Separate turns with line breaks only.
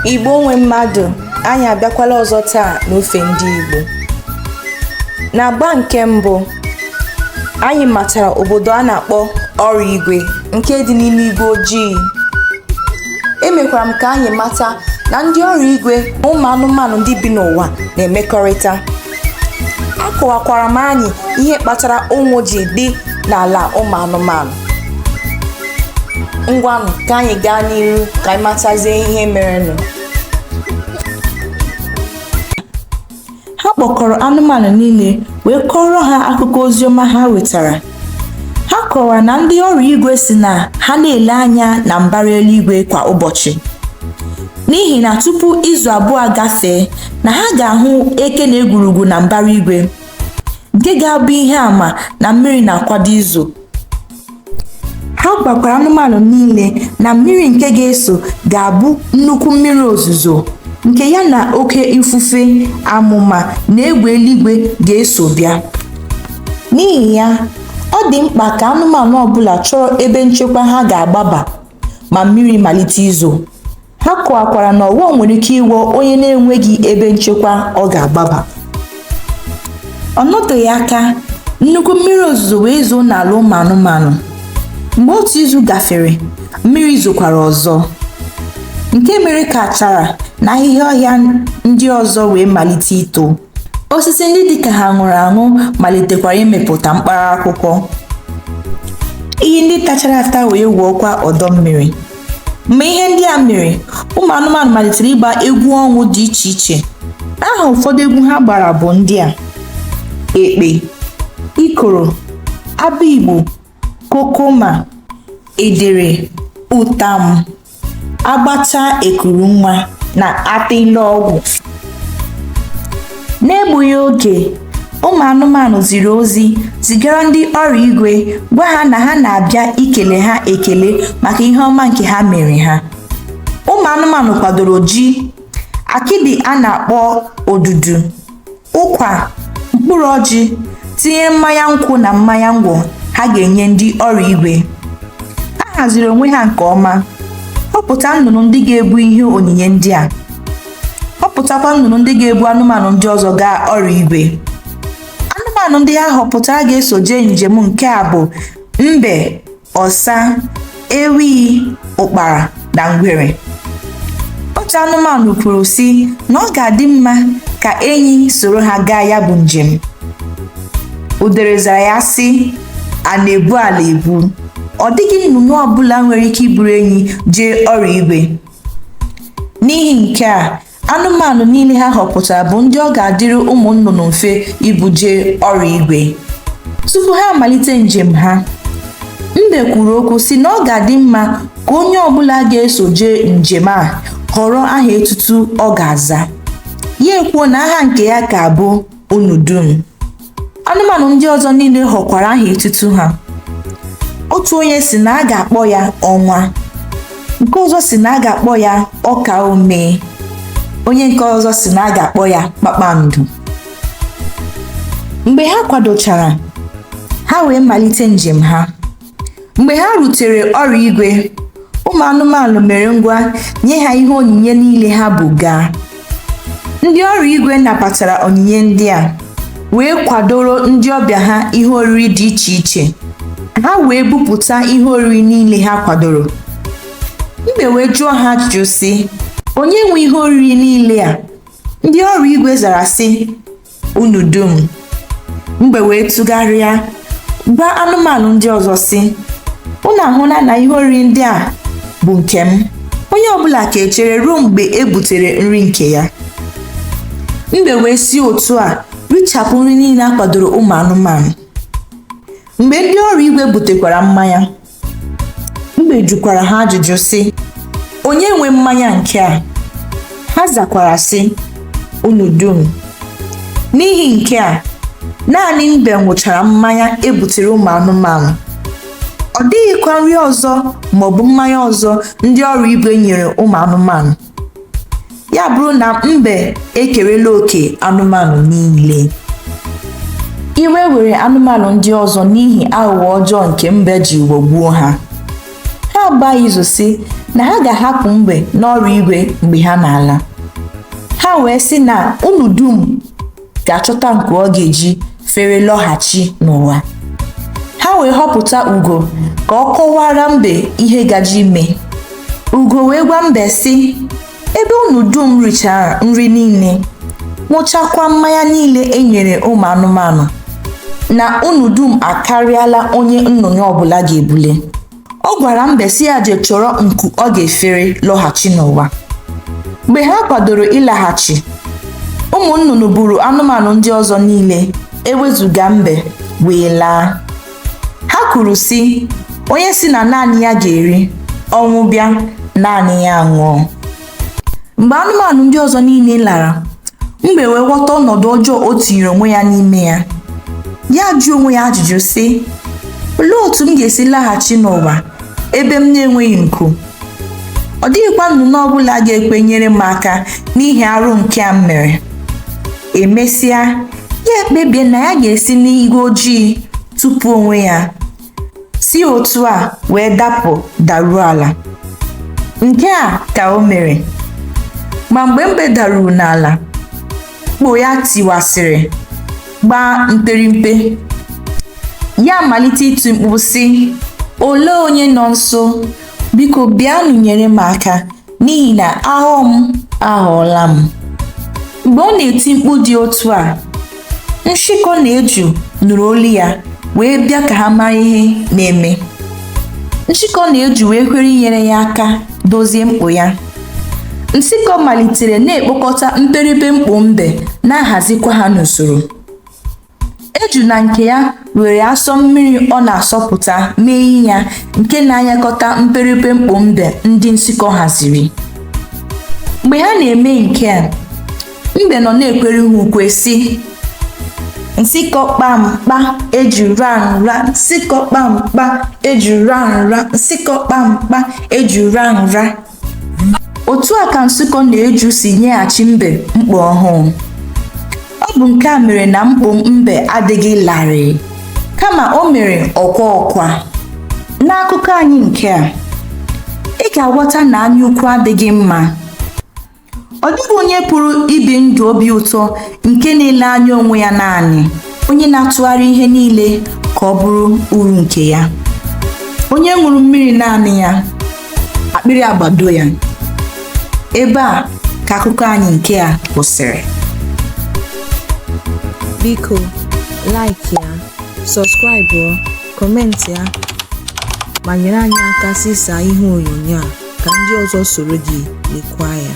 Igbo nwe mmadụ anyị abịakwala ọzọ taa n'ofe ndị Igbo n'agba nke mbụ anyị matara obodo a na-akpọ ọrụ igwe nke dị n'ime igwe ojii emekwara m ka anyị mata na ndị ọrụ igwe na ụmụ anụmanụ ndị bi n'ụwa na-emekọrịta akọwakwara m anyị ihe kpatara ụnwụ ji dị n'ala ụmụ anụmanụ ngwanụ ka anyị gaa n'ihu ka anyị matazie ihe merenụ ha kpọkọrọ anụmanụ niile wee kọrọ ha akụkọ oziọma ha wetara ha kọwara na ndị ọrụ igwe sị na ha na-ele anya na mbara eluigwe kwa ụbọchị n'ihi na tupu izu abụọ gafee na ha ga-ahụ eke na egwurugwu na mbara igwe nke ga-abụ ihe ama na mmiri na-akwado izo ha gwakwara anụmanụ niile na mmiri nke ga-ezo ga-abụ nnukwu mmiri ozuzo nke ya na oke ifufe amụma na egbe eluigwe ga-eso bịa N'ihi ya, ọ dị mkpa ka anụmanụ ọbụla chọrọ ebe nchekwa ha ga-agbaba ma mmiri malite izo. Ha kọwakwara na ọghọm nwere ike ịghọ onye na-enweghị ebe nchekwa ọ ga-agbaba. Ọ nọteghị aka, nnukwu mmiri ozuzo wee zoo n'ala ụmụ anụmanụ. Mgbe otu izu gafere, mmiri zokwara ọzọ, nke mere ka achara na ahịhịa ọhịa ndị ọzọ wee malite ito. osisi ndị dị ka ha nwụrụ anwụ malitekwara imepụta mkpara akwụkwọ iyi ndị tachara ata wee gwuokwa ọdọ mmiri mgbe ihe ndị a mere ụmụ anụmanụ malitere ịgba egwu ọṅụ dị iche iche aha ụfọdụ egwu ha gbara bụ ndị a ekpe ikoro abigbo kokoma edere ụtam agbachaa ekuru nwa na atịlọgwụ n'egbughị oge ụmụ anụmanụ ziri ozi zigara ndị ọrụ igwe gwa ha na ha na-abịa ikele ha ekele maka ihe ọma nke ha mere ha ụmụ anụmanụ kwadoro ji akịdị a na-akpọ odudu ụkwa mkpụrụ ọjị tinye mmanya nkwụ na mmanya ngwọ ha ga-enye ndị ọrụ igwe ha haziri onwe ha nke ọma họpụta nnụnụ ndị ga-ebu ihe onyinye ndị a họpụtakwa nnụnụ ndị ga-ebu anụmanụ ndị ọzọ gaa ọrụ igwe anụmanụ ndị ha họpụtara ga-eso jee njem nke a bụ mbe ọsa ewi ụkpara na ngwere otu anụmanụ kwuru sị na ọ ga-adị mma ka enyi soro ha gaa ya bụ njem udere zara ya sị a na-ebu ala ebu ọ dịghị nnụnụ ọbụla nwere ike iburu enyi jee ọrụ igwe n'ihi nke a anụmanụ niile ha họpụtara bụ ndị ọ ga-adịrị ụmụ nnụnụ mfe ibu jee ọrụ igwe tupu ha amalite njem ha mbe kwuru okwu sị na ọ ga-adị mma ka onye ọbụla ga-eso jee njem a họrọ aha etutu ọ ga-aza ya ekwuo na aha nke ya ga-abụ unu dum anụmanụ ndị ọzọ niile họkwara aha etutu ha otu onye sị na a ga-akpọ ya ọnwa nke ọzọ sị na a ga-akpọ ya ọkaa omee onye nke ọzọ sị na a ga-akpọ ya kpakpando mgbe ha kwadochara ha wee malite njem ha mgbe ha rutere ọrụ igwe ụmụ anụmanụ mere ngwa nye ha ihe onyinye niile ha bu gaa ndị ọrụ igwe nabatara onyinye ndị a wee kwadoro ndị ọbịa ha ihe oriri dị iche iche ha wee bupụta ihe oriri niile ha kwadoro mbe wee jụọ ha ajụjụ sị onye nwe ihe oriri niile a ndị ọrụ igwe zara sị unu dum mbe wee tụgharịa gwa anụmanụ ndị ọzọ sị unu ahụla na ihe oriri ndị a bụ nke m onye ọbụla ga-echere ruo mgbe e butere nri nke ya mbe wee si otu a richapụ nri niile a kwadoro ụmụ anụmanụ mgbe ndị ọrụ igwe butekwara mmanya Mbe jụkwara ha ajụjụ sị, Onye nwe mmanya nke a? Ha zakwara sị, Unu dum. N'ihi nke a, naanị mbe ṅụchara mmanya e butere ụmụ anụmanụ. Ọ dịghịkwa nri ọzọ maọbụ mmanya ọzọ ndị ọrụ igwe nyere ụmụ anụmanụ. ya abụrụ na mbe ekerela oke anụmanụ niile iwe were anụmanụ ndị ọzọ n'ihi aghụghọ ọjọọ nke mbe ji ghọgbuo ha ha agbaa izu sị na ha ga-ahapụ mbe n'ọrụ igwe mgbe ha na-ala ha wee sị na unu dum ga-achọta nku ọ ga-eji fere lọghachi n'ụwa ha wee họpụta ugo ka ọ kọwaara mbe ihe gaje ime ugo wee gwa mbe sị ebe unu dum richara nri niile ṅụchakwa mmanya niile e nyere ụmụ anụmanụ na unu dum akarịala onye nnụnụ ọbụla ga-ebule ọ gwara mbe sị ya je chọrọ nku ọ ga-efere lọghachi n'ụwa mgbe ha kwadoro ịlaghachi ụmụ nnụnụ buru anụmanụ ndị ọzọ niile ewezuga mbe wee laa ha kwuru sị onye sị na naanị ya ga-eri ọnwụ bịa naanị ya nwụọ mgbe anụmanụ ndị ọzọ niile lara mbe wee ghọta ọnọdụ ọjọọ o tinyere onwe ya n'ime ya ya ajụọ onwe ya ajụjụ sị olee otu m ga-esi laghachi n'ụwa ebe m na-enweghị nku ọ dịghịkwa nnụnụ ọ bụla ga-ekwe nyere m aka n'ihi arụ nke a m mere emesịa ya ekpebie na ya ga-esi n'igwe ojii tụpụ onwe ya si otu a wee dapụ daruo ala nke a ka o mere ma mgbe mbe daruru n'ala mkpo ya tiwasịrị gbaa mperimpe ya amalite iti mkpu sị olee onye nọ nso biko bịanụ nyere m aka n'ihi na ahụ m ahụọla m mgbe ọ na-eti mkpu dị otu a nshịkọ na eju nụrụ olu ya wee bịa ka ha mara ihe na-eme nshịkọ na eju wee kwere inyere ya aka dozie mkpo ya nshịkọ malitere na-ekpokọta mperipe mkpo mbe na-ahazikwa ha n'usoro Eju na nke ya were asọ mmiri ọ na-asọpụta mee ihe ya nke na-anyakọta mperipe mkpo mbe ndị nshịkọ haziri. Mgbe ha na-eme nke a, mbe nọ na-ekwere ha ukwe sị, Nshịkọ kpa mkpa eju ra nra, nshịkọ kpa mkpa eju ra nra, nshịkọ kpa mkpa eju ra nra. otu a ka nshịkọ na eju si nyeghachi mbe mkpo ọhụụ ọ bụ nke a mere na mkpo mbe adịghị larịị kama o mere ọkwa ọkwa n'akụkọ anyị nke a ị ga-aghọta na anyaukwu adịghị mma Ọ dịghị onye pụrụ ibi ndụ obi ụtọ nke na-ele anya onwe ya naanị, onye na-atụgharị ihe niile ka ọ bụrụ uru nke ya. Onye ṅụrụ mmiri naanị ya, akpịrị agbado ya. Ebe a ka akụkọ anyị nke a kwụsịrị.
Biko, like ya, sọskraịbụọ. kọmentị ya ma nyere anyị aka zisa ihe onyonyo a ka ndị ọzọ soro gị lekwa ya